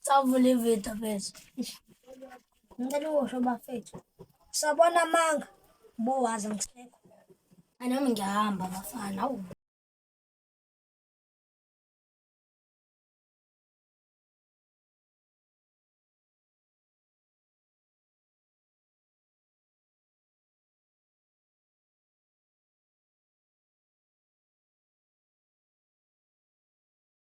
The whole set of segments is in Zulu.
Savula ividiyo mfethu. Ngicela ukusho bafethu. Sabona amanga. Bowazi ngisekho. Anami ngiyahamba bafana. Awu.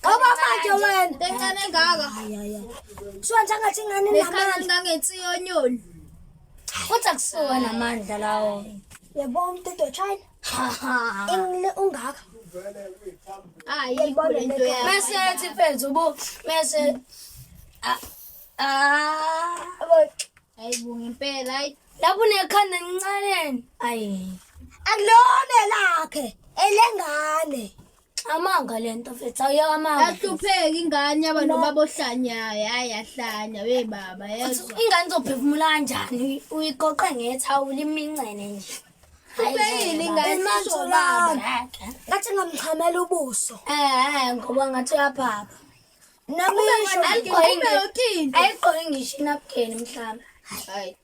Ngoba manje wena bencane ngaka. Kusho nje ngathi ingane namandla. Ngangensiyo onyoni. Kodwa kusuka namandla lawo. Yebo umthetho China. Engile ungaka. Hayi ibona into yakho. Mase ethi mfethu bo mase ah ah ayibo ngempela ayi lapho unekhanda lincane ayi akulona lakhe elengane Amanga lento mfethu awuyeka amanga. Yahlupheka ingane yaba nobaba ohlanyayo hayi yahlanya we baba yezwa. Ingane zophefumula kanjani uyiqoqe ngethawula imincene nje. Ubeyini ingane isho baba. Ngathi ngamxhamela ubuso. Eh ngoba ngathi uyaphapha. Nami isho ayigqoki ngisho inapukeni mhlawumbe. Hayi.